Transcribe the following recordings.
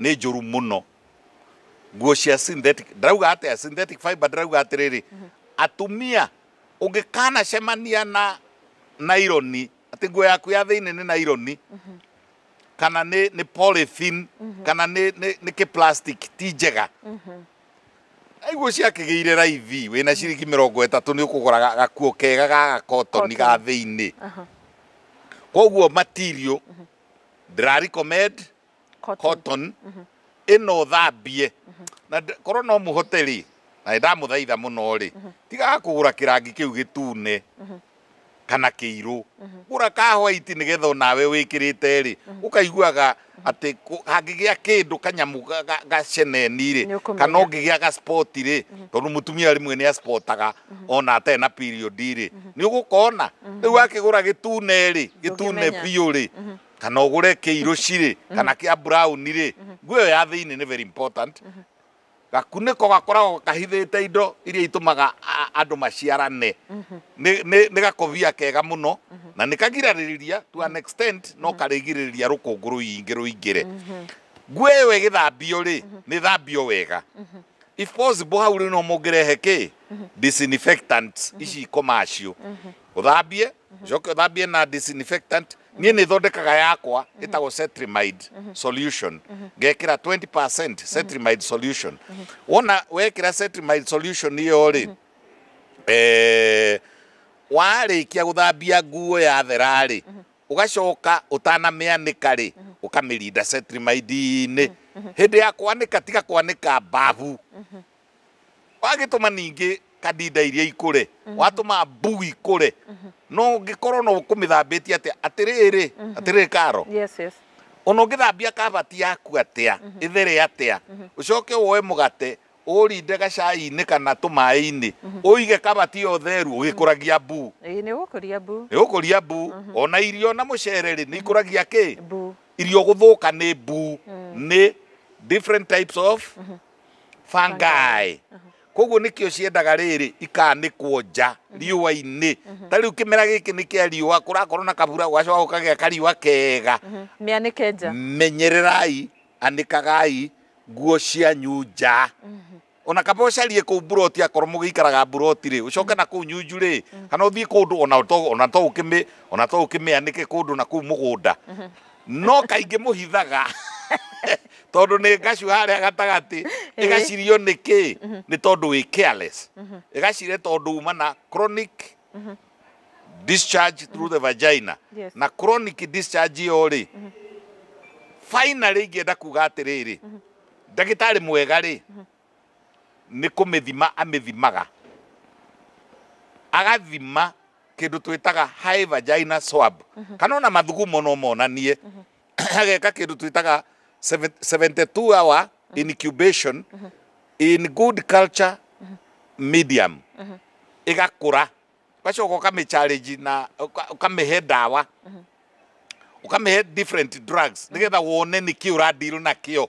nĩ njũru mũno nguo cia synthetic ndirauga atĩa synthetic fiber ndirauga atĩrĩrĩ atumia ũngĩkanacemania na naironi atĩ nguo yaku ya thĩinĩ nĩ naironi kana nĩ nĩ polythene kana nĩ nĩ nĩ kĩ plastic ti njega aiguo ciakĩgĩire raithi wĩna ciringi mĩrongo ĩtatũ nĩ ũkũgũraga gakuo kega ga gakotoni ga thĩinĩ koguo material Draricomed cotton mhm. ĩno thambie mhm. na korwo no mũhote rĩ na ndamũthaitha mũno rĩ mhm. tigaga kũgũra kĩrangi kĩu gĩtune kana kĩirũ gũra ka white nĩgetha onawe wĩkĩrĩte rĩ ũkaiguaga atä hangä gä a kä ndå kanyamå gaceneni rä kana å ngä gä a gaspoti rä tondå må tumia rä mwe nä asportaga ona atarĩ na period rĩ nĩ ũgũkona rĩu akĩgũra gĩtune rĩ gĩtune Ndũngĩmenya. biũ rĩ kana ũgũre kĩirũ cirĩ kana kĩa brown rĩ nguo ĩyo ya thĩinĩ nĩ very important gakunĩko gakoragwo kahithĩte indo iria itũmaga a- andũ maciarane Nĩ- nĩ nĩ gakobia kega mũno na nĩ kagiragĩrĩria to an extent no karĩgirĩrĩria rũkũngũ rũingĩ rũingĩre nguo ĩyo ĩgĩthambio rĩ nĩ thambio wega if possible hau rĩu no mũngĩrehe kĩ disinfectant ici commercial ũthambie ũcoke ũthambie na disinfectant niĩ nĩ thondekaga yakwa ĩtagwo cetrimide solution ngekĩra 20% cetrimide solution wona wekĩra cetrimide solution ĩyo rĩ eh, warĩkia gũthambia nguo yathera-rĩ Ũgacoka ũtanamĩanĩka-rĩ, ũkamĩrinda cetirimaidi-inĩ. Hĩndĩ ya kwanĩka tiga kwanĩka mbabu. Wagĩtũma ningĩ kandinda iria ikũre, watũma mbuu ikũre, na ũngĩkorwo no ũkũmĩthambĩtie atĩa, atĩrĩrĩ, atĩrĩrĩ Karo, o na ũngĩthambia kabati yaku atĩa, ĩthere atĩa, ũcoke woe mũgate Ũũrinde gacai-inĩ kana tũmaĩ-inĩ, ũige kabati ya ũtheru ũgĩkũragia mbu. Ĩĩ, nĩ ũgũkũria mbu. Nĩ ũgũkũria mbu. O na irio na mũcere-rĩ, nĩ ikũragia kĩ? Mbu. Irio gũthũka nĩ mbu, nĩ different types of fungi. Kũoguo nĩkĩo ciendaga rĩrĩ, ikanĩkwo nja riũa-inĩ. Ta rĩu kĩmera gĩkĩ nĩ kĩa riũa, kũrakorwo na kabura, gũgacoka gũkagĩa kariũa kega. Mĩanĩke nja. Menyererai Anĩkagai nguo cianyu nja. O na kaba ũcarie kũu mburoti akorwo mũgĩikaraga mburoti-rĩ, ũcoke na kũu nyunju-rĩ, kana ũthiĩ kũndũ o na to, o na to ũkĩmĩ, o na to ũkĩmĩanĩke kũndũ na kũu mũgũnda. No kaingĩ mũhithaga tondũ nĩ ngacu harĩa gatagatĩ. Ĩgacirio nĩkĩ? Nĩ tondũ wĩ careless. Ĩgacire tondũ uma na chronic discharge through the vagina Yes. na chronic discharge ĩyo rĩ finally ingĩenda kuga atĩrĩrĩ ndagĩtarĩ mwega rĩ nĩ kũmĩthima amĩthimaga agathima kĩndũ twĩtaga high vagina swab kana ona mathugumo no monanie ageka kĩndũ twĩtaga seven- 72 hour incubation in good culture medium ĩgakũra ũgacoka ũkamĩcharĩnji na ũka- ũkamĩhe ndawa ũkamĩhe different drugs nĩgetha wone nĩkĩ ũradirwo nakĩo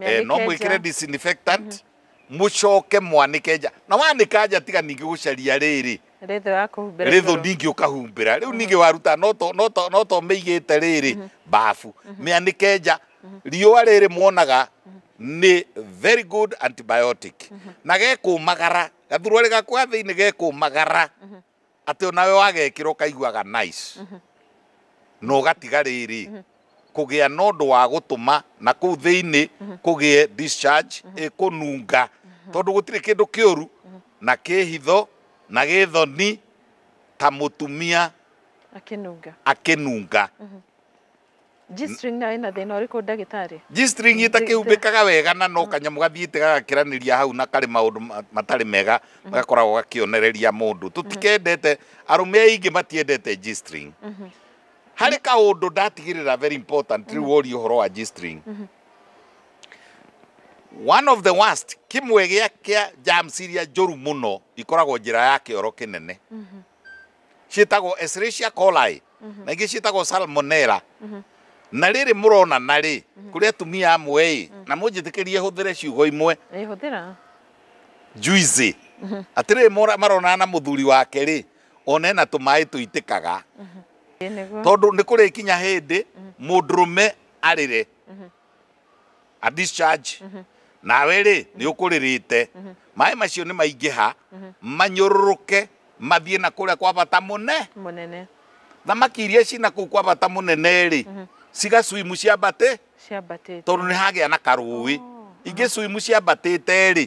eh, no mwikire disinfectant mucoke mwanike nja na wanika nja tiga ningi gucaria riri rithu ya kuhumbira rithu igũrũ. ningi ukahumbira riu ningi waruta no to no to no to meigite riri bafu mianike nja riua riri mwonaga ni very good antibiotic na gekumagara gathurwa rigakuga thiini gekumagara Atĩ o nawe wagekĩra ũkaiguaga nice na ũgatiga rĩrĩ, kũgĩa na ũndũ wa gũtũma na kũu thĩinĩ kũgĩe discharge ĩkũnunga. Tondũ gũtirĩ kĩndũ kĩũru na kĩ hitho na gĩ thoni ta mũtumia Akĩnunga. akĩnunga. G-string nayo ĩna thĩna ũrĩkũ ndagĩtarĩ? G-string ĩtakĩhumbĩkaga wega na no kanyamũ gathiĩte gagakĩranĩria hau na karĩ maũndũ ma- matarĩ mega gakoragwo gakĩonereria mũndũ tũtikendete arũme aingĩ matiendete G-string harĩ kaũndũ ndatigĩrĩra very important rĩu woria ũhoro wa G-string one of the worst kĩmwe gĩa kĩa germs iria njũru mũno ikoragwo njĩra ya kĩoro kĩnene ciĩtagwo Escherichia coli mhm. na ingĩ ciĩtagwo salmonella mhm. na rĩrĩ mũronana rĩ mhm. kũrĩ atumia amwe ĩ na mũnjĩtĩkĩrie hũthĩre ciugo imwe juizi atĩrĩrĩ maronana na mũthuri wake rĩ one na tũmaĩ tũitĩkaga tondũ nĩ kũrĩkinya hĩndĩ mũndũrũme arĩre a discharge nawe rĩ nĩ ũkũrĩrĩte maĩ macio nĩ maingĩha manyũrũrũke mathiĩ na kũrĩa kwa bata mũne mũnene thamaki iria cina kũu kwa bata mũnene rĩ cigacuimu ciambatĩ ciambatĩte tondũ nĩ hagĩa na karũĩ ingĩ cuimu ciambatĩte rĩ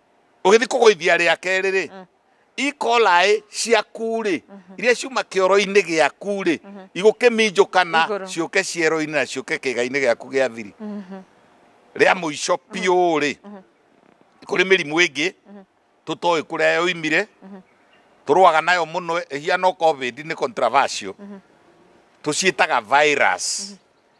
ũgĩthiĩ kũgũithia rĩa kerĩ-rĩ mm. ikolaĩ ciaku-rĩ mhm. iria ciuma kĩoro-inĩ gĩaku-rĩ mhm. igũkĩminjũkana ciũke ciero-inĩ na ciũke kĩga-inĩ gĩaku gĩa thiri mhm. rĩa mũico biũ-rĩ kũrĩ mĩrimũ ĩngĩ tũtoĩ kũrĩa yoimire tũrũaga nayo mũno hiano covid nĩ controversial tũciĩtaga virus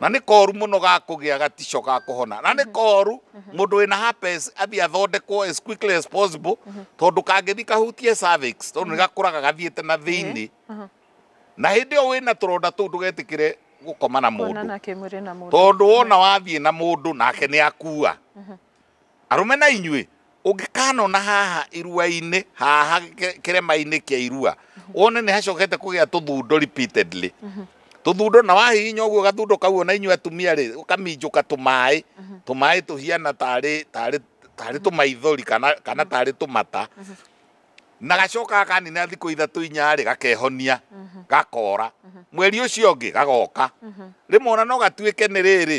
na nĩ koru mũno ga kũgĩa gatico ga kũhona na nĩ koru mũndũ wĩna herpes athiĩ athondekwo as quickly as possible tondũ kangĩthi kahutie cervix tondũ nĩ gakũraga gathiĩte na thĩinĩ na hĩndĩ ĩyo wĩna tũronda tũu ndũgetĩkĩre gũkoma na mũndũ kuonana kĩmwĩrĩ na mũndũ tondũ wona wathiĩ na mũndũ nake nĩ akua Arũme na inyuĩ, ũngĩkanona haha irua-inĩ, haha kĩrema-inĩ kĩa irua, wone nĩ hacokete kũgĩa tũthundo repeatedly, tũthundo, na wahihinya ũguo gathundo kau ona inyuĩ atumia rĩ, ũkaminjũka tũmaĩ, tũmaĩ tũhiana tarĩ, tarĩ, tarĩ tũmaithori kana, kana tarĩ tũmata, na gacokaga kanina thikũ ithatũ inya rĩ, gakehonia, gakora. Mweri ũcio ũngĩ gagoka. Rĩmwe ona no gatuĩke nĩ rĩrĩ,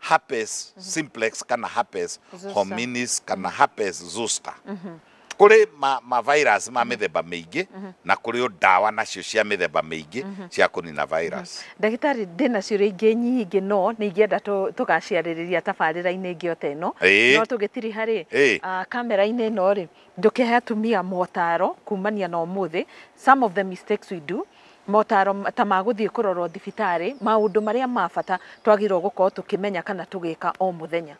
herpes mhm. simplex kana herpes hominis kana mhm. herpes zoster mhm. kuri ma, ma virus ma mithemba miingi na kuri o ndawa nacio cia mithemba miingi cia kunina virus ndagitari ndi nacio ringi nyingi no ni ingienda tugaciaririria tabarira-ini ingi o teno no tugitiri hari ah, kamera-ini ino ri ndukihe atumia motaro kumania na umuthi some of the mistakes we do Motaaro ta ma gũthiĩ kũrorwo thibitarĩ, maũndũ marĩa ma bata twagĩrĩirwo gũkorwo tũkĩmenya kana tũgĩka o mũthenya.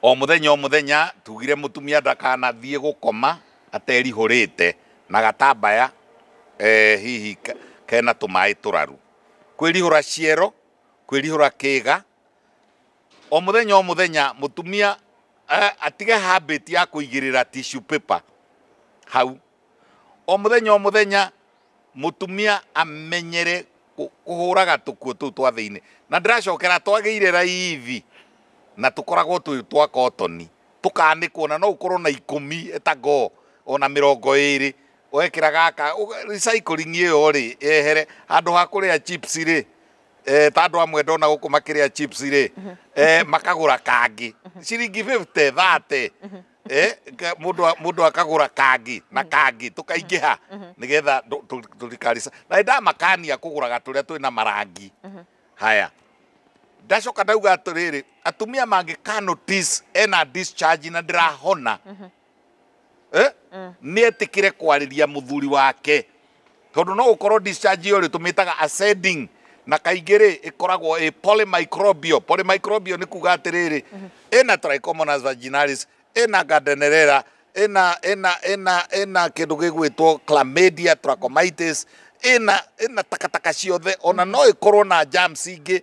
O mũthenya o mũthenya tugire mũtumia ndakanathiĩ gũkoma aterihũrĩte na gatambaya hihi kena tũmaĩ tũraru. Kwĩrihũra ciero, kwĩrihũra kĩga, o mũthenya o mũthenya mũtumia atige habit ya kũigĩrĩra tissue paper hau. O mũthenya o mũthenya mũtumia amenyere kũ- kũhũraga tũkuo tũu twa thĩinĩ na ndĩracokera twagĩire raithi na tũkoragwo twĩ twa kotoni tũkanĩkwo na no ũkorwo na ikũmi etagoo ona mĩrongo ĩrĩ wekĩra gaka ũga- recycling ĩyo rĩ yehere handũ ha kũrĩa chips rĩ eh, ta andũ amwe ndona gũkũ makĩrĩa chips rĩ eh, makagũra kangĩ ciringi 50 30 eh, ka- mũndũ a- mũndũ akagũra kangi na kangi tũkaingĩha nĩgetha ndũ- tũ- tũtikarisa na ndamakania kũgũraga tũrĩa twĩ na marangi haya ndacoka ndauga atĩrĩrĩ atumia mangĩka notice ena discharge na ndĩrahona eh? nĩetĩkĩre kwarĩria mũthuri wake Tondũ no ũkorwo discharge ĩyo rĩ tũmĩtaga ascending na kaingĩ rĩ ĩkoragwo ĩ polymicrobial. Polymicrobial nĩ kuga atĩrĩrĩ ĩna trichomonas vaginalis, ĩna gardnerella, ĩna ĩna ĩna ĩna kĩndũ gĩgwĩtwo chlamydia trachomitis, ĩna ĩna takataka ciothe ona no ĩkorwo na germs ingĩ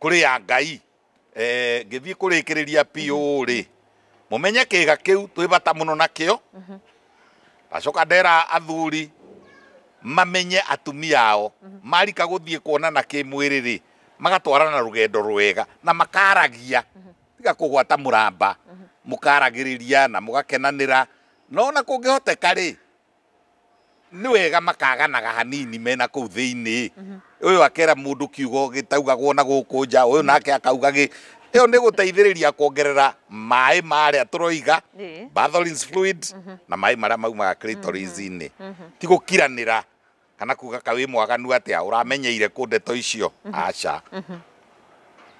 kũrĩ ya Ngai. Eh, ngĩthiĩ kũrĩkĩrĩria biũ rĩ mũmenye kĩga kĩu twĩ bata mũno nakĩo ndacoka ndera athuri mamenye atumia ao marika gũthiĩ kuonana kĩmwĩrĩ rĩ magatwarana na rũgendo rwega na makaragia tiga kũgwata mũramba mũkaragĩrĩria na mũgakenanĩra no na kũngĩhoteka rĩ nĩ wega makaganaga hanini me na kũu thĩinĩ ũyũ akera mũndũ kiugo gĩtaugagwo na gũkũ nja ũyũ nake akauga gĩ ĩyo nĩ gũteithĩrĩria kuongerera maĩ ma arĩa tũroiga Ĩĩ. batholins fluid na maĩ marĩa maumaga clitoris-inĩ ti gũkiranĩra Kana kuuga ka wĩ mwaganu atĩa ũramenyeire kũ ndeto icio? Aca.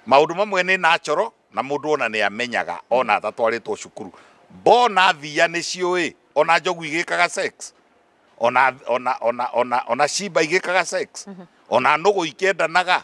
Maũndũ mamwe nĩ natural na mũndũ ona nĩ amenyaga ona atatwarĩtwo cukuru. Mbona thiia nĩ ciũĩ ona njogu igĩkaga sex? Ona, ona, ona, ona, ona cimba igĩkaga sex? Ona nũgũ ikĩendanaga?